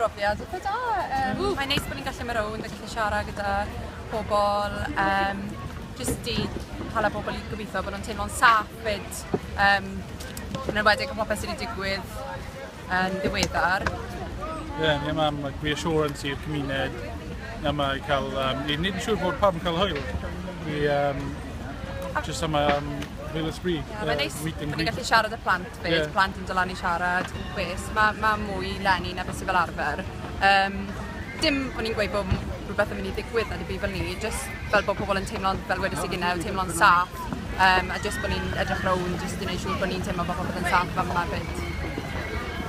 brofiad eitha da. Um, Mae'n neis bod ni'n gallu mynd rownd a gallu siarad gyda pobl, um, jyst i hala pobl i gobeithio bod nhw'n teimlo'n saff fyd, um, yn enwedig o popeth sydd wedi digwydd yn ddiweddar. Ie, yeah, ni am like, reassurance i'r cymuned, na mae cael, um, i wneud yn siŵr bod pawb yn cael hwyl. I, um, just am, um, Hwyl ysbri. Yeah, mae'n neis bod ni'n gallu siarad y plant fyd, yeah. plant yn dylan i siarad, beth, mae ma mwy lenni na beth sy'n fel arfer. Um, dim o'n i'n gweud bod rhywbeth yn mynd i ddigwydd na dim byd fel ni, jyst fel bod pobl yn teimlo'n, fel wedi sy'n gynnau, teimlo'n saff, um, a jyst bod ni'n edrych rown, jyst i wneud siŵr bod ni'n teimlo bod pobl yn saff fan yma fyd.